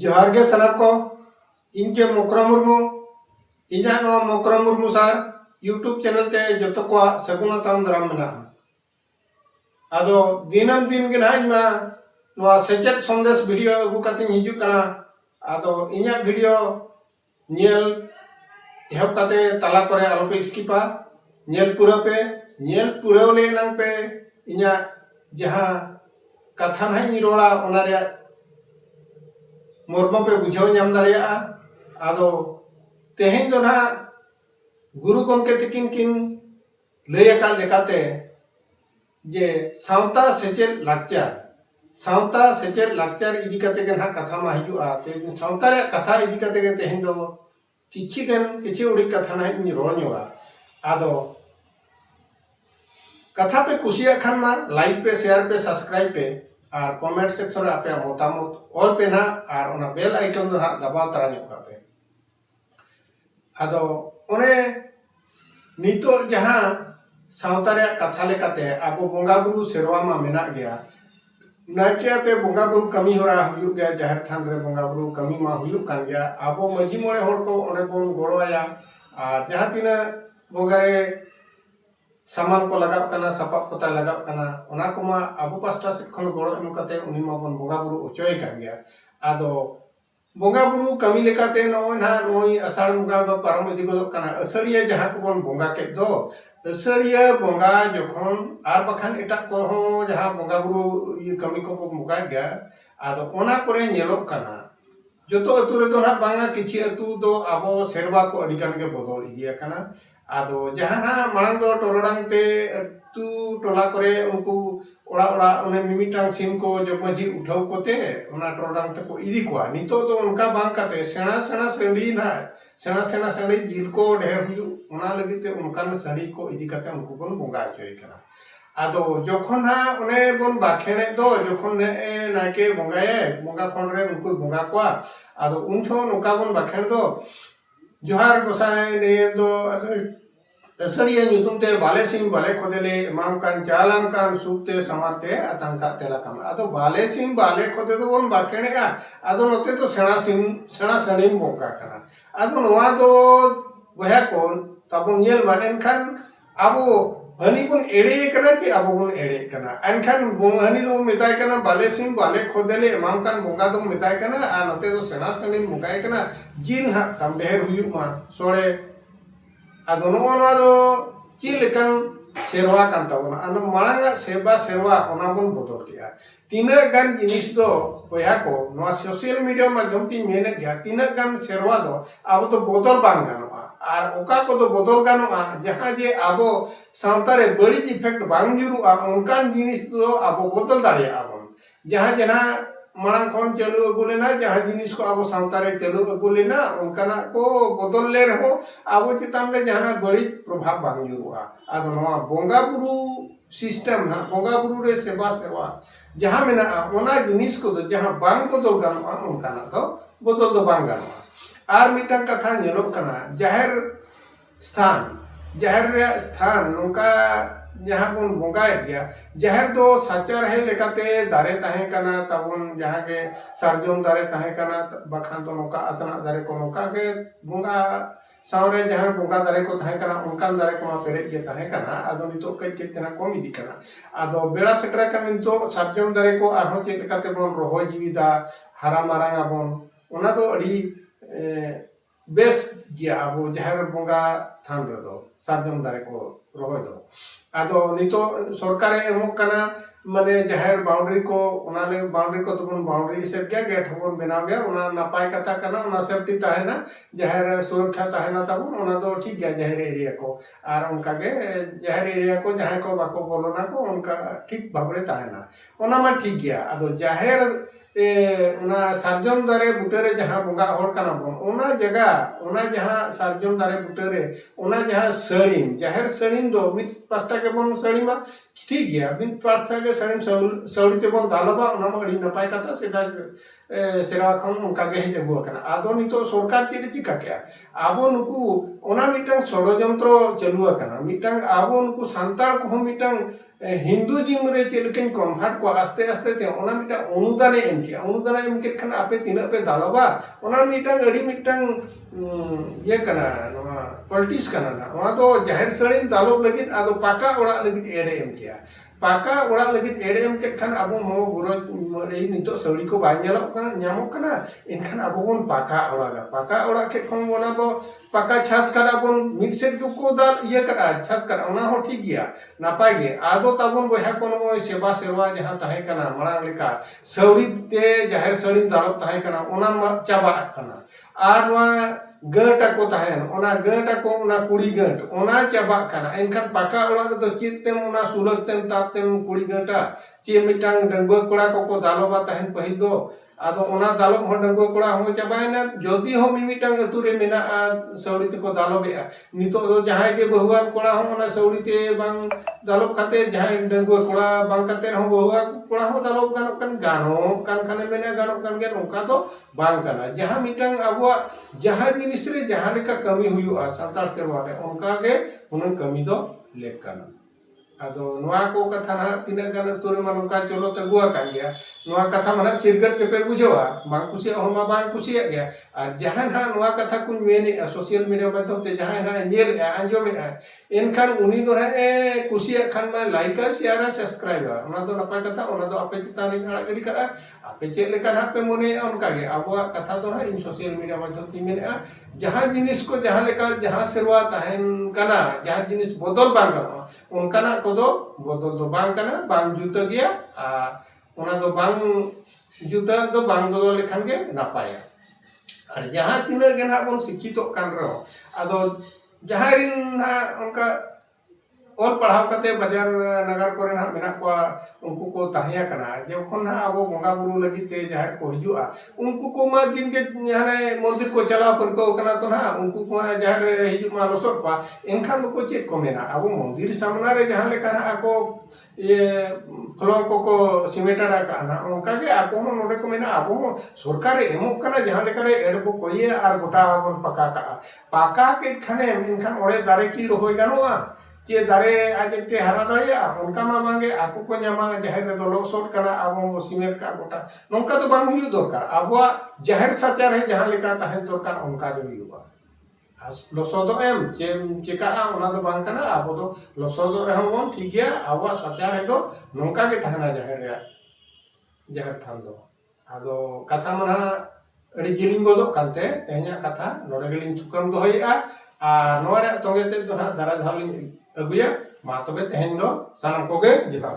ᱡᱚᱦᱟᱨ ᱜᱮ ᱥᱟᱱᱟᱢ ᱠᱚ ᱤᱧ ᱜᱮ ᱢᱚᱠᱨᱟ ᱢᱩᱨᱢᱩ ᱤᱧᱟᱹᱜ ᱱᱚᱣᱟ ᱢᱚᱠᱨᱟ ᱢᱩᱨᱢᱩ ᱥᱟᱨ ᱤᱭᱩᱴᱩᱵᱽ ᱪᱮᱱᱮᱞ ᱛᱮ ᱡᱚᱛᱚ ᱠᱚᱣᱟᱜ ᱥᱟᱹᱜᱩᱱ ᱟᱛᱟᱝ ᱫᱟᱨᱟᱢ ᱢᱮᱱᱟᱜᱼᱟ ᱟᱫᱚ ᱫᱤᱱᱟᱹᱢ ᱫᱤᱱ ᱜᱮ ᱱᱟᱦᱟᱜ ᱤᱧ ᱢᱟ ᱱᱚᱣᱟ ᱥᱮᱪᱮᱫ ᱥᱚᱱᱫᱮᱥ ᱵᱷᱤᱰᱤᱭᱳ ᱟᱹᱜᱩ ᱠᱟᱛᱮᱧ ᱦᱤᱡᱩᱜ ᱠᱟᱱᱟ ᱟᱫᱚ ᱤᱧᱟᱹᱜ ᱵᱷᱤᱰᱤᱭᱳ ᱧᱮᱞ ᱮᱦᱚᱵ ᱠᱟᱛᱮ ᱛᱟᱞᱟ ᱠᱚᱨᱮ ᱟᱞᱚᱯᱮ ᱥᱠᱤᱯᱟ ᱧᱮᱞ ᱯᱩᱨᱟᱹᱣ ᱯᱮ ᱧᱮᱞ ᱯᱩᱨᱟᱹᱣ ᱞᱮ ᱮᱱᱟᱝ ᱯᱮ ᱤᱧᱟᱹᱜ ᱡᱟᱦᱟᱸ ᱠᱟᱛᱷᱟ ᱱᱟᱦᱟᱜ ᱤᱧ ᱨᱚᱲᱟ ᱚᱱᱟ ᱨᱮᱭᱟᱜ ᱢᱚᱨᱢᱚ ᱯᱮ ᱵᱩᱡᱷᱟᱹᱣ ᱧᱟᱢ ᱫᱟᱲᱮᱭᱟᱜᱼᱟ ᱟᱫᱚ ᱛᱮᱦᱮᱧ ᱫᱚ ᱱᱟᱦᱟᱜ ᱜᱩᱨᱩ ᱜᱚᱢᱠᱮ ᱛᱟᱹᱠᱤᱱ ᱠᱤᱱ ᱞᱟᱹᱭ ᱟᱠᱟᱫ ᱞᱮᱠᱟᱛᱮ ᱡᱮ ᱥᱟᱶᱛᱟ ᱥᱮᱪᱮᱫ ᱞᱟᱠᱪᱟᱨ ᱥᱟᱶᱛᱟ ᱥᱮᱪᱮᱫ ᱞᱟᱠᱪᱟᱨ ᱤᱫᱤ ᱠᱟᱛᱮ ᱜᱮ ᱱᱟᱦᱟᱜ ᱠᱟᱛᱷᱟ ᱢᱟ ᱦᱤᱡᱩᱜᱼᱟ ᱛᱮᱦᱮᱧ ᱥᱟᱶᱛᱟ ᱨᱮᱭᱟᱜ ᱠᱟᱛᱷᱟ ᱤᱫᱤ ᱠᱟᱛᱮ ᱜᱮ ᱛᱮᱦᱮᱧ ᱫᱚ ᱠᱤᱪᱷᱤ ᱜᱟᱱ ᱠᱤᱪᱷᱤ ᱩᱰᱤᱡ ᱠᱟᱛᱷᱟ ᱱᱟᱦᱟᱜ ᱤᱧ ᱨᱚᱲ ᱧᱚᱜᱟ ᱟᱫᱚ ᱠᱟᱛᱷᱟ ᱯᱮ ᱠᱩᱥᱤᱭᱟᱜ ᱠᱷᱟᱱ ᱢᱟ ᱞᱟᱭᱤᱠ ᱯᱮ ᱥᱮᱭᱟᱨ ᱯᱮ ᱥᱟᱵᱥᱠᱨᱟᱭᱤᱵ ᱯᱮ ᱟᱨ ᱠᱚᱢᱮᱱᱴ ᱥᱮᱠᱥᱚᱱ ᱨᱮ ᱟᱯᱮᱭᱟᱜ ᱢᱚᱛᱟᱢᱚᱛ ᱚᱞ ᱯᱮ ᱱᱟᱦᱟᱜ ᱟᱨ ᱚᱱᱟ ᱵᱮᱞ ᱟᱭᱠᱚᱱ ᱫᱚ ᱱᱟᱦᱟᱜ ᱫᱟᱵᱟᱣ ᱛᱟᱨᱟ ᱧᱚᱜ ᱠᱟᱜ ᱯᱮ ᱟᱫᱚ ᱚᱱᱮ ᱱᱤᱛᱚᱜ ᱡᱟᱦᱟᱸ ᱥᱟᱶᱛᱟ ᱨᱮᱭᱟᱜ ᱠᱟᱛᱷᱟ ᱞᱮᱠᱟᱛᱮ ᱟᱵᱚ ᱵᱚᱸᱜᱟ ᱵᱩᱨᱩ ᱥᱮᱨᱣᱟ ᱢᱟ ᱢᱮᱱᱟᱜ ᱜᱮᱭᱟ ᱱᱟᱭᱠᱮ ᱟᱛᱮ ᱵᱚᱸᱜᱟ ᱵᱩᱨᱩ ᱠᱟᱹᱢᱤ ᱦᱚᱨᱟ ᱦᱩᱭᱩᱜ ᱜᱮᱭᱟ ᱡᱟᱦᱮᱨ ᱛᱷᱟᱱ ᱨᱮ ᱵᱚᱸᱜᱟ ᱵᱩᱨᱩ ᱠᱟᱹᱢᱤ ᱢᱟ ᱦᱩᱭᱩᱜ ᱠᱟᱱ ᱜᱮᱭᱟ ᱟᱵᱚ ᱢᱟᱹᱡᱷᱤ ᱢᱚᱬᱮ ᱦᱚᱲ ᱠᱚ ᱚᱸᱰᱮ ᱵᱚᱱ ᱜᱚᱲᱚ ᱟᱭᱟ ᱟᱨ ᱡᱟᱦᱟᱸ ᱛᱤᱱᱟᱹᱜ ᱵᱚᱸᱜᱟ ᱨᱮ ᱥᱟᱢᱟᱱ ᱠᱚ ᱞᱟᱜᱟᱜ ᱠᱟᱱᱟ ᱥᱟᱯᱟᱵ ᱠᱚ ᱛᱟᱭ ᱞᱟᱜᱟᱜ ᱠᱟᱱᱟ ᱚᱱᱟ ᱠᱚᱢᱟ ᱟᱵᱚ ᱯᱟᱥᱴᱟ ᱥᱮᱫ ᱠᱷᱚᱱ ᱜᱚᱲᱚ ᱮᱢ ᱠᱟᱛᱮ ᱩᱱᱤ ᱢᱟᱵᱚᱱ ᱵᱚᱸᱜᱟ ᱵᱩᱨᱩ ᱦᱚᱪᱚᱭᱮ ᱠᱟᱱ ᱜᱮᱭᱟ ᱟᱫᱚ ᱵᱚᱸᱜᱟ ᱵᱩᱨᱩ ᱠᱟᱹᱢᱤ ᱞᱮᱠᱟᱛᱮ ᱱᱚᱜᱼᱚᱭ ᱱᱟᱦᱟᱜ ᱱᱚᱜᱼᱚᱭ ᱟᱥᱟᱲ ᱵᱚᱸᱜᱟ ᱫᱚ ᱯᱟᱨᱚᱢ ᱤᱫᱤ ᱜᱚᱫᱚᱜ ᱠᱟᱱᱟ ᱟᱹᱥᱟᱹᱲᱤᱭᱟᱹ ᱡᱟᱦᱟᱸ ᱠᱚᱵᱚᱱ ᱵᱚᱸᱜᱟ ᱠᱮᱫ ᱫᱚ ᱟᱹᱥᱟᱹᱲᱤᱭᱟᱹ ᱵᱚᱸᱜᱟ ᱡᱚᱠᱷᱚᱱ ᱟᱨ ᱵᱟᱠᱷᱟᱱ ᱮᱴᱟᱜ ᱠᱚᱦᱚᱸ ᱡᱟᱦᱟᱸ ᱵᱚᱸᱜᱟ ᱵᱩᱨᱩ ᱤᱭᱟᱹ ᱠᱟᱹᱢᱤ ᱠᱚᱠᱚ ᱵᱚᱸᱜᱟᱭ ᱜᱮᱭᱟ ᱟᱫᱚ ᱚᱱᱟ ᱠᱚᱨᱮ ᱧᱮᱞᱚᱜ ᱠᱟᱱᱟ ᱡᱚᱛᱚ ᱟᱹᱛᱩ ᱨᱮᱫᱚ ᱱᱟᱦᱟᱜ ᱵᱟᱝᱟ ᱠᱤᱪᱷᱩ ᱟᱹᱛᱩ ᱫᱚ ᱟᱵᱚ ᱥᱮᱨᱣᱟ ᱠᱚ ᱟᱹᱰᱤ ᱜᱟᱱ ᱜᱮ ᱵᱚᱫᱚᱞ ᱤᱫᱤ ᱟᱠᱟᱱᱟ ᱟᱫᱚ ᱡᱟᱦᱟᱸ ᱱᱟᱜ ᱢᱟᱲᱟᱝ ᱫᱚ ᱴᱚᱨᱚᱰᱟᱝ ᱛᱮ ᱟᱹᱛᱩ ᱴᱚᱞᱟ ᱠᱚᱨᱮ ᱩᱱᱠᱩ ᱚᱲᱟᱜ ᱚᱲᱟᱜ ᱚᱱᱮ ᱢᱤᱢᱤᱫᱴᱟᱝ ᱥᱤᱢ ᱠᱚ ᱡᱚᱜᱽ ᱢᱟᱺᱡᱷᱤ ᱩᱴᱷᱟᱹᱣ ᱠᱚᱛᱮ ᱚᱱᱟ ᱴᱚᱨᱚᱰᱟᱝ ᱛᱮᱠᱚ ᱤᱫᱤ ᱠᱚᱣᱟ ᱱᱤᱛᱳᱜ ᱫᱚ ᱚᱱᱠᱟ ᱵᱟᱝ ᱠᱟᱛᱮ ᱥᱮᱬᱟ ᱥᱮᱬᱟ ᱥᱟᱺᱰᱤ ᱱᱟᱜ ᱥᱮᱬᱟ ᱥᱮᱬᱟ ᱥᱟᱺᱰᱤ ᱡᱤᱞ ᱠᱚ ᱰᱷᱮᱨ ᱦᱩᱭᱩᱜ ᱚᱱᱟ ᱞᱟᱹᱜᱤᱫ ᱛᱮ ᱚᱱᱠᱟᱱ ᱥᱟᱺᱰᱤ ᱠᱚ ᱤᱫᱤ ᱠᱟᱛᱮ ᱩᱱᱠᱩ ᱵᱚᱱ ᱵᱚᱸᱜᱟ ᱦᱚᱪᱚᱭᱮ ᱠᱟᱱᱟ ᱟᱫᱚ ᱡᱚᱠᱷᱚᱱ ᱱᱟᱜ ᱚᱱᱮ ᱵᱚᱱ ᱵᱟᱠᱷᱮᱲᱮᱫ ᱫᱚ ᱡᱚᱠᱷᱚᱱ ᱱᱮᱜᱼᱮ ᱱᱟᱭᱠᱮᱭ ᱵᱚᱸᱜᱟᱭᱟᱭ ᱵᱚᱸᱜᱟ ᱠᱷᱚᱸᱰ ᱨᱮ ᱩᱱᱠᱩᱭ ᱵᱚᱸᱜᱟ ᱠᱚᱣᱟ ᱟᱫᱚ ᱩᱱ ᱡᱚᱦᱚᱜ ᱱᱚᱝᱠᱟ ᱵᱚᱱ ᱵᱟᱠᱷᱮᱲ ᱫᱚ ᱡᱚᱦᱟᱨ ᱜᱚᱥᱟᱭ ᱱᱤᱭᱟᱹ ᱫᱚ ᱟᱹᱥᱟᱹᱲᱤᱭᱟᱹ ᱧᱩᱛᱩᱢ ᱛᱮ ᱵᱟᱞᱮ ᱥᱤᱢ ᱵᱟᱞᱮ ᱠᱷᱚᱫᱮᱞᱮ ᱮᱢᱟᱢ ᱠᱟᱱ ᱪᱟᱞᱟᱢ ᱠᱟᱱ ᱥᱩᱠ ᱛᱮ ᱥᱟᱶᱟᱨ ᱛᱮ ᱟᱛᱟᱝ ᱠᱟᱜ ᱛᱮᱞᱟ ᱠᱟᱢ ᱟᱫᱚ ᱵᱟᱞᱮ ᱥᱤᱢ ᱵᱟᱞᱮ ᱠᱷᱚᱫᱮ ᱫᱚᱵᱚᱱ ᱵᱟᱠᱷᱮᱲᱮᱜᱼᱟ ᱟᱫᱚ ᱱᱚᱛᱮ ᱫᱚ ᱥᱮᱬᱟ ᱥᱤᱢ ᱥᱮᱬᱟ ᱥᱟᱺᱰᱤᱢ ᱵᱚᱸᱜᱟ ᱠᱟᱱᱟ ᱟᱫᱚ ᱱᱚᱣᱟ ᱫᱚ ᱵᱚᱭᱦᱟ ᱠᱚ ᱛᱟᱵᱚᱱ ᱧᱮᱞ ᱢᱟ ᱮᱱᱠᱷᱟᱱ ᱟᱵᱚ ᱦᱟᱹᱱᱤ ᱵᱚᱱ ᱮᱲᱮᱭᱮ ᱠᱟᱱᱟ ᱪᱮ ᱟᱵᱚ ᱵᱚᱱ ᱮᱲᱮᱭᱮ ᱠᱟᱱᱟ ᱮᱱᱠᱷᱟᱱ ᱦᱟᱹᱱᱤ ᱫᱚᱵᱚᱱ ᱢᱮᱛᱟᱭ ᱠᱟᱱᱟ ᱵᱟᱞᱮ ᱥᱤᱢ ᱵᱟᱞᱮ ᱠᱷᱚᱫᱮᱞᱮ ᱮᱢᱟᱢ ᱠᱟᱱ ᱵᱚᱸᱜᱟ ᱫᱚᱢ ᱢᱮᱛᱟᱭ ᱠᱟᱱᱟ ᱟᱨ ᱱᱚᱛᱮ ᱫᱚ ᱥᱮᱬᱟ ᱥᱟᱺᱰᱤᱢ ᱵᱚᱸᱜᱟᱭᱮ ᱠᱟᱱᱟ ᱡᱤᱞ ᱦᱟᱸᱜ ᱛᱟᱢ ᱰᱷᱮᱨ ᱦᱩᱭᱩᱜ ᱢᱟ ᱥᱚᱲᱮ ᱟᱫᱚ ᱱᱚᱜᱼᱚ ᱱᱚᱣᱟ ᱫᱚ ᱪᱮᱫ ᱞᱮᱠᱟᱱ ᱥᱮᱨᱣᱟ ᱠᱟᱱ ᱛᱟᱵᱚᱱᱟ ᱟᱫᱚ ᱢᱟᱲᱟᱝ ᱟᱜ ᱥᱮᱵᱟ ᱥᱮᱨᱣᱟ ᱚᱱᱟ ᱵᱚᱱ ᱵᱚᱫᱚᱞ ᱠᱮᱜᱼᱟ ᱛᱤᱱᱟᱹᱜ ᱜᱟᱱ ᱡᱤᱱᱤᱥ ᱫᱚ ᱵᱚᱭᱦᱟ ᱠᱚ ᱱᱚᱣᱟ ᱥᱳᱥᱟᱞ ᱢᱤᱰᱤᱭᱟ ᱢᱟᱫᱽᱫᱷᱚᱢ ᱛᱤᱧ ᱢᱮᱱᱮᱫ ᱜᱮᱭᱟ ᱛᱤᱱᱟᱹᱜ ᱜᱟᱱ ᱥᱮᱨᱣᱟ ᱫᱚ ᱟᱵᱚ ᱫᱚ ᱵᱚᱫᱚᱞ ᱵᱟᱝ ᱜᱟᱱᱚᱜᱼᱟ ᱟᱨ ᱚᱠᱟ ᱠᱚᱫᱚ ᱵᱚᱫᱚᱞ ᱜᱟᱱᱚᱜᱼᱟ ᱡᱟᱦᱟᱸ ᱡᱮ ᱟᱵᱚ ᱥᱟᱶᱛᱟ ᱨᱮ ᱵᱟᱹᱲᱤᱡ ᱤᱯᱷᱮᱠᱴ ᱵᱟᱝ ᱧᱩᱨᱩᱜᱼᱟ ᱚᱱᱠᱟᱱ ᱡᱤᱱᱤᱥ ᱫᱚ ᱟᱵᱚ ᱵᱚᱫᱚᱞ ᱫᱟᱲᱮᱭᱟᱜᱼᱟ ᱵᱚᱱ ᱡᱟᱦᱟᱸ ᱡᱮ ᱱᱟᱜ ᱢᱟᱲᱟᱝ ᱠᱷᱚᱱ ᱪᱟᱹᱞᱩ ᱟᱹᱜᱩ ᱞᱮᱱᱟ ᱡᱟᱦᱟᱸ ᱡᱤᱱᱤᱥ ᱠᱚ ᱟᱵᱚ ᱥᱟᱶᱛᱟ ᱨᱮ ᱪᱟᱹᱞᱩ ᱟᱹᱜᱩ ᱞᱮᱱᱟ ᱚᱱᱠᱟᱱᱟᱜ ᱠᱚ ᱵᱚᱫᱚᱞ ᱞᱮᱱ ᱨᱮᱦᱚᱸ ᱟᱵᱚ ᱪᱮᱛᱟᱱ ᱨᱮ ᱡᱟᱦᱟᱱᱟᱜ ᱵᱟᱹᱲᱤᱡ ᱯᱨᱚᱵᱷᱟᱵᱽ ᱵᱟᱝ ᱧᱩᱨᱩᱜᱼᱟ ᱟᱫᱚ ᱱᱚᱣᱟ ᱵᱚᱸᱜᱟᱼᱵᱩᱨᱩ ᱥᱤᱥᱴᱮᱢ ᱦᱟᱸᱜ ᱵᱚᱸᱜᱟ ᱵᱩᱨᱩ ᱨᱮ ᱥᱮᱵᱟ ᱥᱮᱵᱟ ᱡᱟᱦᱟᱸ ᱢᱮᱱᱟᱜᱼᱟ ᱚᱱᱟ ᱡᱤᱱᱤᱥ ᱠᱚᱫᱚ ᱡᱟᱦᱟᱸ ᱵᱟᱝ ᱵᱚᱫᱚᱞ ᱜᱟᱱᱚᱜᱼᱟ ᱚᱱᱠᱟᱱᱟᱜ ᱫᱚ ᱵᱚᱫᱚᱞ ᱫᱚ ᱵᱟᱝ ᱜᱟᱱᱚᱜᱼᱟ ᱟᱨ ᱢᱤᱫᱴᱟᱝ ᱠᱟᱛᱷᱟ ᱧᱮᱞᱚᱜ ᱠᱟᱱᱟ ᱡᱟᱦᱮᱨ ᱥᱛᱷᱟᱱ ᱡᱟᱦᱮᱨ ᱨᱮᱭᱟᱜ ᱥᱛᱷᱟᱱ ᱱᱚᱝᱠᱟ ᱡᱟᱦᱟᱸ ᱵᱚᱱ ᱵᱚᱸᱜᱟᱭᱮᱫ ᱜᱮᱭᱟ ᱡᱟᱦᱮᱨ ᱫᱚ ᱥᱟᱪᱟᱨᱦᱮ ᱞᱮᱠᱟᱛᱮ ᱫᱟᱨᱮ ᱛᱟᱦᱮᱸ ᱠᱟᱱᱟ ᱛᱟᱵᱚᱱ ᱡᱟᱦᱟᱸ ᱜᱮ ᱥᱟᱨᱡᱚᱢ ᱫᱟᱨᱮ ᱛᱟᱦᱮᱸ ᱠᱟᱱᱟ ᱵᱟᱠᱷᱟᱱ ᱫᱚ ᱱᱚᱝᱠᱟ ᱟᱛᱱᱟᱜ ᱫᱟᱨᱮ ᱠᱚ ᱱᱚᱝᱠᱟ ᱜᱮ ᱵᱚᱸᱜᱟ ᱥᱟᱶᱨᱮ ᱡᱟᱦᱟᱸ ᱵᱚᱸᱜᱟ ᱫᱟᱨᱮ ᱠᱚ ᱛᱟᱦᱮᱸ ᱠᱟᱱᱟ ᱚᱱᱠᱟᱱ ᱫᱟᱨᱮ ᱠᱚᱢᱟ ᱯᱮᱨᱮᱡ ᱜᱮ ᱛᱟᱦᱮᱸ ᱠᱟᱱᱟ ᱟᱫᱚ ᱱᱤᱛᱚᱜ ᱠᱟᱹᱡ ᱠᱟᱹᱡ ᱛᱮ ᱱᱟᱜ ᱠᱚᱢ ᱤᱫᱤᱜ ᱠᱟᱱᱟ ᱟᱫᱚ ᱵᱮᱲᱟ ᱥᱮᱴᱮᱨ ᱟᱠᱟᱱᱟ ᱱᱤᱛᱚᱜ ᱥᱟᱨᱡᱚᱢ ᱫᱟᱨᱮ ᱠᱚ ᱟᱨᱦᱚᱸ ᱪᱮᱫ ᱞᱮᱠᱟ ᱛᱮᱵᱚᱱ ᱨᱚᱦᱚᱭ ᱡᱤᱣᱤᱫᱟ ᱦᱟᱨᱟ ᱢᱟᱨᱟᱝ ᱟᱵᱚᱱ ᱚᱱᱟ ᱫᱚ ᱟᱹᱰᱤ ᱵᱮᱥ ᱜᱮᱭᱟ ᱟᱵᱚ ᱡᱟᱦᱮᱨ ᱵᱚᱸᱜᱟ ᱛᱷᱟᱱ ᱨᱮᱫᱚ ᱥᱟᱨᱡᱚᱢ ᱫᱟᱨᱮ ᱠᱚ ᱨᱚᱦᱚᱭ ᱫᱚ ᱟᱫᱚ ᱱᱤᱛᱚᱜ ᱥᱚᱨᱠᱟᱨᱮ ᱮᱢᱚᱜ ᱠᱟᱱᱟ ᱢᱟᱱᱮ ᱡᱟᱦᱮᱨ ᱵᱟᱣᱩᱱᱰᱨᱤ ᱠᱚ ᱚᱱᱟ ᱞᱟᱹᱜᱤᱫ ᱵᱟᱣᱩᱱᱰᱨᱤ ᱠᱚᱫᱚ ᱵᱚᱱ ᱵᱟᱣᱩᱱᱰᱨᱤ ᱮᱥᱮᱫ ᱜᱮᱭᱟ ᱜᱮᱴ ᱦᱚᱸᱵᱚᱱ ᱵᱮᱱᱟᱣ ᱜᱮᱭᱟ ᱚᱱᱟ ᱱᱟᱯᱟᱭ ᱠᱟᱛᱷᱟ ᱠᱟᱱᱟ ᱚᱱᱟ ᱥᱮᱯᱴᱤ ᱛᱟᱦᱮᱱᱟ ᱡᱟᱦᱮᱨ ᱨᱮ ᱥᱩᱨᱚᱠᱠᱷᱟ ᱛᱟᱦᱮᱱᱟ ᱛᱟᱵᱚᱱ ᱚᱱᱟ ᱫᱚ ᱴᱷᱤᱠ ᱜᱮᱭᱟ ᱡᱟᱦᱮᱨ ᱮᱨᱤᱭᱟ ᱠᱚ ᱟᱨ ᱚᱱᱠᱟ ᱜᱮ ᱡᱟᱦᱮᱨ ᱮᱨᱤᱭᱟ ᱠᱚ ᱡᱟᱦᱟᱸᱭ ᱠᱚ ᱵᱟᱠᱚ ᱵᱚᱞᱚᱱᱟ ᱠᱚ ᱚᱱᱠᱟ ᱴᱷᱤᱠ ᱵᱷᱟᱵᱽ ᱨᱮ ᱛᱟᱦᱮᱱᱟ ᱚᱱᱟ ᱢᱟ ᱴᱷᱤᱠ ᱜᱮᱭᱟ ᱟᱫᱚ ᱡᱟᱦᱮᱨ ᱚᱱᱟ ᱥᱟᱨᱡᱚᱢ ᱫᱟᱨᱮ ᱵᱩᱴᱟᱹ ᱨᱮ ᱡᱟᱦᱟᱸ ᱵᱚᱸᱜᱟᱜ ᱦᱚᱲ ᱠᱟᱱᱟ ᱵᱚᱱ ᱚᱱᱟ ᱡᱟᱭᱜᱟ ᱚᱱᱟ ᱡᱟᱦᱟᱸ ᱥᱟᱨᱡᱚᱢ ᱫᱟᱨᱮ ᱵᱩᱴᱟᱹ ᱨᱮ ᱚᱱᱟ ᱡᱟᱦᱟᱸ ᱥᱟᱹᱲᱤᱢ ᱡᱟᱦᱮᱨ ᱥᱟᱹᱲᱤᱢ ᱫᱚ ᱢᱤᱫ ᱯᱟᱥᱴᱟ ᱜᱮᱵᱚᱱ ᱥᱟᱹᱲᱤᱢᱟ ᱴᱷᱤᱠ ᱜᱮᱭᱟ ᱢᱤᱫ ᱯᱟᱥᱴᱟ ᱜᱮ ᱥᱟᱹᱲᱤᱢ ᱥᱟᱹᱣᱲᱤ ᱛᱮᱵᱚᱱ ᱫᱟᱞᱚᱵᱟ ᱚᱱᱟ ᱢᱟ ᱟᱹᱰᱤ ᱱᱟᱯᱟᱭ ᱠᱟᱛᱷᱟ ᱥᱮᱫᱟᱭ ᱥᱮᱨᱣᱟ ᱠᱷᱚᱱ ᱚᱱᱠᱟ ᱜᱮ ᱦᱮᱡ ᱟᱹᱜᱩ ᱟᱠᱟᱱᱟ ᱟᱫᱚ ᱱᱤᱛᱚᱜ ᱥᱚᱨᱠᱟᱨ ᱪᱮᱫ ᱮ ᱪᱤᱠᱟᱹ ᱠᱮᱜᱼᱟ ᱟᱵᱚ ᱱᱩᱠᱩ ᱚᱱᱟ ᱢᱤᱫᱴᱟᱝ ᱥᱚᱲᱚ ᱡᱚᱱᱛᱨᱚ ᱪᱟᱹᱞᱩ ᱟᱠᱟᱱᱟ ᱢᱤᱫᱴᱟᱝ ᱟᱵᱚ ᱱᱩᱠᱩ ᱥᱟᱱᱛᱟᱲ ᱠᱚᱦᱚᱸ ᱢᱤᱫᱴᱟᱝ ᱦᱤᱱᱫᱩᱡᱚᱢ ᱨᱮ ᱪᱮᱫ ᱞᱮᱠᱟᱧ ᱠᱚᱱᱵᱷᱟᱨᱴ ᱠᱚᱣᱟ ᱟᱥᱛᱮ ᱟᱥᱛᱮ ᱛᱮ ᱚᱱᱟ ᱢᱤᱫᱴᱟᱝ ᱚᱱᱩᱫᱟᱱᱮ ᱮᱢ ᱠᱮᱜᱼᱟ ᱚᱱᱩᱫᱟᱱᱮ ᱮᱢ ᱠᱮᱜ ᱠᱷᱟᱱ ᱟᱯᱮ ᱛᱤᱱᱟᱹᱜ ᱯᱮ ᱫᱟᱞᱚᱵᱟ ᱚᱱᱟ ᱢᱤᱫᱴᱟᱝ ᱟᱹᱰᱤ ᱢᱤᱫᱴᱟᱝ ᱤᱭᱟᱹ ᱠᱟᱱᱟ ᱱᱚᱣᱟ ᱯᱚᱞᱴᱤᱠᱥ ᱠᱟᱱᱟ ᱱᱟᱜ ᱚᱱᱟ ᱫᱚ ᱡᱟᱦᱮᱨ ᱥᱟᱹᱲᱤᱢ ᱫᱟᱞᱚᱵ ᱞᱟᱹᱜᱤᱫ ᱟᱫᱚ ᱯᱟᱠᱟ ᱚᱲᱟᱜ ᱞᱟᱹᱜᱤᱫ ᱮᱰ ᱮ ᱮᱢ ᱠᱮᱜᱼᱟ ᱯᱟᱠᱟ ᱚᱲᱟᱜ ᱞᱟᱹᱜᱤᱫ ᱮᱰ ᱮᱢ ᱠᱮᱫ ᱠᱷᱟᱱ ᱟᱵᱚ ᱱᱚᱣᱟ ᱜᱚᱨᱚᱡᱽ ᱱᱤᱛᱚᱜ ᱥᱟᱹᱣᱲᱤ ᱠᱚ ᱵᱟᱭ ᱧᱮᱞᱚᱜ ᱠᱟᱱᱟ ᱧᱟᱢᱚᱜ ᱠᱟᱱᱟ ᱮᱱᱠᱷᱟᱱ ᱟᱵᱚ ᱵᱚᱱ ᱯᱟᱠᱟ ᱚᱲᱟᱜᱟ ᱯᱟᱠᱟ ᱚᱲᱟᱜ ᱠᱮᱫ ᱠᱷᱟᱱ ᱵᱚᱱ ᱚᱱᱟ ᱫᱚ ᱯᱟᱠᱟ ᱪᱷᱟᱫᱽ ᱠᱟᱫᱟ ᱵᱚᱱ ᱢᱤᱫ ᱥᱮᱫ ᱜᱮᱠᱚ ᱫᱟᱞ ᱤᱭᱟᱹ ᱠᱟᱫᱟ ᱪᱷᱟᱫᱽ ᱠᱟᱫᱟ ᱚᱱᱟ ᱦᱚᱸ ᱴᱷᱤᱠ ᱜᱮᱭᱟ ᱱᱟᱯᱟᱭ ᱜᱮ ᱟᱫᱚ ᱛᱟᱵᱚᱱ ᱵᱚᱭᱦᱟ ᱠᱚ ᱱᱚᱜᱼᱚᱭ ᱥᱮᱵᱟ ᱥᱮᱨᱣᱟ ᱡᱟᱦᱟᱸ ᱛᱟᱦᱮᱸ ᱠᱟᱱᱟ ᱢᱟᱲᱟᱝ ᱞᱮᱠᱟ ᱥᱟᱹᱣᱲᱤ ᱛᱮ ᱡᱟᱦᱮᱨ ᱥᱟᱹᱲᱤᱢ ᱫᱟᱞᱚᱵ ᱛᱟᱦᱮᱸ ᱠᱟᱱᱟ ᱚᱱᱟ ᱢᱟ ᱪᱟᱵᱟᱜ ᱠᱟᱱᱟ ᱟᱨ ᱱᱚᱣᱟ ᱜᱟᱺᱴ ᱟᱠᱚ ᱛᱟᱦᱮᱱ ᱚᱱᱟ ᱜᱟᱺᱴ ᱟᱠᱚ ᱚᱱᱟ ᱠᱩᱲᱤ ᱜᱟᱺᱴ ᱚᱱᱟ ᱪᱟᱵᱟᱜ ᱠᱟᱱᱟ ᱮᱱᱠᱷᱟᱱ ᱯᱟᱠᱟ ᱚᱲᱟᱜ ᱨᱮᱫᱚ ᱪᱮᱫ ᱛᱮᱢ ᱚᱱᱟ ᱥᱩᱞᱟᱹᱠ ᱛᱮᱢ ᱛᱟᱯ ᱛᱮᱢ ᱠᱩᱲᱤ ᱜᱟᱺᱴᱟ ᱪᱮ ᱢᱤᱫᱴᱟᱝ ᱰᱟᱺᱜᱩᱣᱟᱹ ᱠᱚᱲᱟ ᱠᱚᱠᱚ ᱫᱟᱞᱚᱵᱟ ᱛᱟᱦᱮᱱ ᱯᱟᱹᱦᱤᱞ ᱫᱚ ᱟᱫᱚ ᱚᱱᱟ ᱫᱟᱞᱚᱵ ᱦᱚᱸ ᱰᱟᱺᱜᱩᱣᱟᱹ ᱠᱚᱲᱟ ᱦᱚᱸ ᱪᱟᱵᱟᱭᱮᱱᱟ ᱡᱩᱫᱤ ᱦᱚᱸ ᱢᱤᱼᱢᱤᱫᱴᱟᱝ ᱟᱛᱳ ᱨᱮ ᱢᱮᱱᱟᱜᱼᱟ ᱥᱟᱹᱣᱲᱤ ᱛᱮᱠᱚ ᱫᱟᱞᱚᱵᱮᱜᱼᱟ ᱱᱤᱛᱳᱜ ᱫᱚ ᱡᱟᱦᱟᱸᱭ ᱜᱮ ᱵᱟᱹᱦᱩᱣᱟᱱ ᱠᱚᱲᱟ ᱦᱚᱸ ᱚᱱᱟ ᱥᱟᱹᱣᱲᱤ ᱛᱮ ᱵᱟᱝ ᱫᱟᱞᱚᱵ ᱠᱟᱛᱮ ᱡᱟᱦᱟᱸᱭ ᱰᱟᱺᱜᱩᱣᱟᱹ ᱠᱚᱲᱟ ᱵᱟᱝ ᱠᱟᱛᱮ ᱨᱮᱦᱚᱸ ᱵᱟᱹᱦᱩᱣᱟᱱ ᱠᱚᱲᱟ ᱦᱚᱸ ᱫᱟᱞᱚᱵ ᱜᱟᱱᱚᱜ ᱠᱟᱱ ᱜᱟᱱᱚᱜ ᱠᱟᱱ ᱠᱷᱟᱱᱮᱢ ᱢᱮᱱᱟ ᱜᱟᱱᱚᱜ ᱠᱟᱱ ᱜᱮᱭᱟ ᱱᱚᱝᱠᱟ ᱫᱚ ᱵᱟᱝ ᱠᱟᱱᱟ ᱡᱟᱦᱟᱸ ᱢᱤᱫᱴᱟᱝ ᱟᱵᱚᱣᱟᱜ ᱡᱟᱦᱟᱸ ᱡᱤᱱᱤᱥ ᱨᱮ ᱡᱟᱦᱟᱸ ᱞᱮᱠᱟ ᱠᱟᱹᱢᱤ ᱦᱩᱭᱩᱜᱼᱟ ᱥᱟᱱᱛᱟᱲ ᱥᱮᱨᱣᱟ ᱨᱮ ᱚᱱᱠᱟ ᱜᱮ ᱦᱩᱱᱟᱹᱝ ᱠᱟᱹᱢᱤ ᱫᱚ ᱞᱮᱠ ᱠᱟᱱᱟ ᱟᱫᱚ ᱱᱚᱣᱟ ᱠᱚ ᱠᱟᱛᱷᱟ ᱱᱟᱜ ᱛᱤᱱᱟᱹᱜ ᱜᱟᱱ ᱟᱛᱳ ᱨᱮᱢᱟ ᱱᱚᱝᱠᱟ ᱪᱚᱞᱚᱛ ᱟᱹᱜᱩ ᱟᱠᱟᱱ ᱜᱮᱭᱟ ᱱᱚᱣᱟ ᱠᱟᱛᱷᱟ ᱢᱟ ᱱᱟᱜ ᱥᱤᱨᱜᱟᱹᱫ ᱜᱮᱯᱮ ᱵᱩᱡᱷᱟᱹᱣᱟ ᱵᱟᱝ ᱠᱩᱥᱤᱭᱟᱜ ᱦᱚᱲ ᱢᱟ ᱵᱟᱝ ᱠᱩᱥᱤᱭᱟᱜ ᱜᱮᱭᱟ ᱟᱨ ᱡᱟᱦᱟᱸᱭ ᱱᱟᱜ ᱱᱚᱣᱟ ᱠᱟᱛᱷᱟ ᱠᱚᱧ ᱢᱮᱱᱮᱜᱼᱟ ᱥᱳᱥᱟᱞ ᱢᱤᱰᱤᱭᱟ ᱢᱟᱫᱽᱫᱷᱚᱢ ᱛᱮ ᱡᱟᱦᱟᱸᱭ ᱱᱟᱜ ᱧᱮᱞᱮᱜᱼᱟᱭ ᱟᱸᱡᱚᱢᱮᱜᱼᱟᱭ ᱮᱱᱠᱷᱟᱱ ᱩᱱᱤ ᱫᱚ ᱱᱟᱦᱟᱜ ᱮ ᱠᱩᱥᱤᱭᱟᱜ ᱠᱷᱟᱱ ᱢᱟᱭ ᱞᱟᱭᱤᱠᱟ ᱥᱮᱭᱟᱨᱟ ᱥᱟᱵᱥᱠᱨᱟᱭᱤᱵᱟ ᱚᱱᱟ ᱫᱚ ᱱᱟᱯᱟᱭ ᱠᱟᱛᱷᱟ ᱚᱱᱟ ᱫᱚ ᱟᱯᱮ ᱪᱮᱛᱟᱱ ᱨᱤᱧ ᱟᱲᱟᱜ ᱜᱤᱰᱤ ᱠᱟᱜᱼᱟ ᱟᱯᱮ ᱪᱮᱫ ᱞᱮᱠᱟ ᱱᱟᱦᱟᱜ ᱯᱮ ᱢᱚᱱᱮᱭᱮᱜᱼᱟ ᱚᱱᱠᱟ ᱜᱮ ᱟᱵᱚᱣᱟᱜ ᱠᱟᱛᱷᱟ ᱫᱚ ᱱᱟᱦᱟᱜ ᱤᱧ ᱥᱳᱥᱟᱞ ᱢᱤᱰᱤᱭᱟ ᱢᱟᱫᱽᱫᱷᱚᱢ ᱛᱤᱧ ᱢᱮᱱᱮᱜᱼᱟ ᱡᱟᱦᱟᱸ ᱡᱤᱱᱤᱥ ᱠᱚ ᱡᱟᱦᱟᱸ ᱞᱮᱠᱟ ᱡᱟᱦᱟᱸ ᱥᱮᱨᱣᱟ ᱛᱟᱦᱮᱱ ᱠᱟᱱᱟ ᱡᱟᱦᱟᱸ ᱡᱤᱱᱤᱥ ᱵᱚᱫᱚᱞ ᱵᱟᱝ ᱜᱟᱱᱚᱜᱼᱟ ᱚᱱᱠᱟᱱᱟᱜ ᱠᱚᱫᱚ ᱵᱚᱫᱚᱞ ᱫᱚ ᱵᱟᱝ ᱠᱟᱱᱟ ᱵᱟᱝ ᱡᱩᱛᱟᱹ ᱜᱮᱭᱟ ᱟᱨ ᱚᱱᱟ ᱫᱚ ᱵᱟᱝ ᱡᱩᱛᱟᱹᱣᱟᱜ ᱫᱚ ᱵᱟᱝ ᱵᱚᱫᱚᱞ ᱞᱮᱠᱷᱟᱱ ᱜᱮ ᱱᱟᱯᱟᱭᱟ ᱟᱨ ᱡᱟᱦᱟᱸ ᱛᱤᱱᱟᱹᱜ ᱜᱮ ᱱᱟᱦᱟᱜ ᱵᱚᱱ ᱥᱤᱠᱠᱷᱤᱛᱚᱜ ᱠᱟᱱ ᱨᱮᱦᱚᱸ ᱟᱫᱚ ᱡᱟᱦᱟᱸᱭ ᱨᱮᱱ ᱦᱟᱸᱜ ᱚᱱᱠᱟ ᱚᱞ ᱯᱟᱲᱦᱟᱣ ᱠᱟᱛᱮ ᱵᱟᱡᱟᱨ ᱱᱟᱜᱟᱨ ᱠᱚᱨᱮ ᱦᱟᱸᱜ ᱢᱮᱱᱟᱜ ᱠᱚᱣᱟ ᱩᱱᱠᱩ ᱠᱚ ᱛᱟᱦᱮᱸ ᱟᱠᱟᱱᱟ ᱡᱚᱠᱷᱚᱱ ᱦᱟᱸᱜ ᱟᱵᱚ ᱵᱚᱸᱜᱟᱼᱵᱩᱨᱩ ᱞᱟᱹᱜᱤᱫ ᱛᱮ ᱡᱟᱦᱟᱸᱭ ᱠᱚ ᱦᱤᱡᱩᱜᱼᱟ ᱩᱱᱠᱩ ᱠᱚᱢᱟ ᱫᱤᱱ ᱜᱮ ᱦᱟᱱᱮ ᱢᱚᱱᱫᱤᱨ ᱠᱚ ᱪᱟᱞᱟᱣ ᱯᱟᱹᱨᱠᱟᱹᱣ ᱠᱟᱱᱟ ᱛᱚ ᱦᱟᱸᱜ ᱩᱱᱠᱩ ᱠᱚ ᱦᱟᱸᱜ ᱡᱟᱦᱮᱨ ᱨᱮ ᱦᱤᱡᱩᱜ ᱢᱟ ᱞᱚᱥᱚᱫ ᱠᱚᱣᱟ ᱮᱱᱠᱷᱟᱱ ᱫᱚᱠᱚ ᱪᱮᱫ ᱠᱚ ᱢᱮᱱᱟ ᱟᱵᱚ ᱢᱚᱱᱫᱤᱨ ᱥᱟᱢᱱᱟ ᱨᱮ ᱡᱟᱦᱟᱸ ᱞᱮᱠᱟ ᱦᱟᱸᱜ ᱟᱠᱚ ᱤᱭᱟᱹ ᱯᱷᱞᱳᱨ ᱠᱚᱠᱚ ᱥᱤᱢᱮᱴᱮᱰ ᱟᱠᱟᱫᱼᱟ ᱱᱟᱜ ᱚᱱᱠᱟ ᱜᱮ ᱟᱠᱚ ᱦᱚᱸ ᱱᱚᱰᱮ ᱠᱚ ᱢᱮᱱᱟ ᱟᱵᱚ ᱦᱚᱸ ᱥᱚᱨᱠᱟᱨᱮ ᱮᱢᱚᱜ ᱠᱟᱱᱟ ᱡᱟᱦᱟᱸ ᱞᱮᱠᱟ ᱨᱮ ᱮᱰ ᱵᱚ ᱠᱚᱭᱮᱭᱟ ᱟᱨ ᱜᱚᱴᱟ ᱵᱚᱱ ᱯᱟᱠᱟ ᱠᱟᱜᱼᱟ ᱯᱟᱠᱟ ᱠᱮᱫ ᱠᱷᱟᱱᱮᱢ ᱮᱱᱠᱷᱟᱱ ᱚᱸᱰᱮ ᱫᱟᱨᱮ ᱠᱤ ᱨᱚᱦᱚᱭ ᱜᱟᱱᱚᱜᱼᱟ ᱪᱮ ᱫᱟᱨᱮ ᱟᱡ ᱟᱡ ᱛᱮ ᱦᱟᱨᱟ ᱫᱟᱲᱮᱭᱟᱜᱼᱟ ᱚᱱᱠᱟ ᱢᱟ ᱵᱟᱝ ᱜᱮ ᱟᱠᱚ ᱠᱚ ᱧᱟᱢᱟ ᱡᱟᱦᱮᱨ ᱨᱮᱫᱚ ᱞᱚᱥᱚᱫ ᱠᱟᱱᱟ ᱟᱵᱚ ᱦᱚᱸ ᱵᱚᱱ ᱥᱤᱢᱮᱱᱴ ᱠᱟᱜᱼᱟ ᱜᱚᱴᱟ ᱱᱚᱝᱠᱟ ᱫᱚ ᱵᱟᱝ ᱦᱩᱭᱩᱜ ᱫᱚᱨᱠᱟᱨ ᱟᱵᱚᱣᱟᱜ ᱡᱟᱦᱮᱨ ᱥᱟᱪᱟᱨᱦᱮ ᱡᱟᱦᱟᱸ ᱞᱮᱠᱟ ᱛᱟᱦᱮᱱ ᱫᱚᱨᱠᱟᱨ ᱚᱱᱠᱟ ᱜᱮ ᱦᱩᱭᱩᱜᱼᱟ ᱞᱚᱥᱚᱫᱚᱜ ᱮᱢ ᱪᱮᱫ ᱮᱢ ᱪᱤᱠᱟᱹᱜᱼᱟ ᱚᱱᱟ ᱫᱚ ᱵᱟᱝ ᱠᱟᱱᱟ ᱟᱵᱚ ᱫᱚ ᱞᱚᱥᱚᱫᱚᱜ ᱨᱮᱦᱚᱸ ᱵᱚᱱ ᱴᱷᱤᱠ ᱜᱮᱭᱟ ᱟᱵᱚᱣᱟᱜ ᱥᱟᱪᱟᱨᱦᱮᱫ ᱫᱚ ᱱᱚᱝᱠᱟ ᱜᱮ ᱛᱟᱦᱮᱱᱟ ᱡᱟᱦᱮᱨ ᱨᱮᱭᱟᱜ ᱡᱟᱦᱮᱨ ᱛᱷᱟᱱ ᱫᱚ ᱟᱫᱚ ᱠᱟᱛᱷᱟ ᱢᱟ ᱱᱟᱦᱟᱜ ᱟᱹᱰᱤ ᱡᱤᱞᱤᱧ ᱜᱚᱫᱚᱜ ᱠᱟᱱᱛᱮ ᱛᱮᱦᱮᱧᱟᱜ ᱠᱟᱛᱷᱟ ᱱᱚᱰᱮ ᱜᱮᱞᱤᱧ ᱛᱷᱩᱠᱟᱹᱢ ᱫᱚᱦᱚᱭᱮᱫᱼᱟ ᱟᱨ ᱱᱚᱣᱟ ᱨᱮᱭᱟᱜ ᱛᱚᱸᱜᱮ ᱛᱮᱫ ᱫᱚ ᱱᱟᱦᱟᱜ ᱫᱟᱨᱟᱭ ᱫᱷᱟᱣ ᱞᱤᱧ ᱟᱹᱜᱩᱭᱟ ᱢᱟ ᱛᱚᱵᱮ ᱛᱮᱦᱮᱧ ᱫᱚ ᱥᱟᱱᱟᱢ ᱠᱚᱜᱮ ᱡᱚᱦᱟᱨ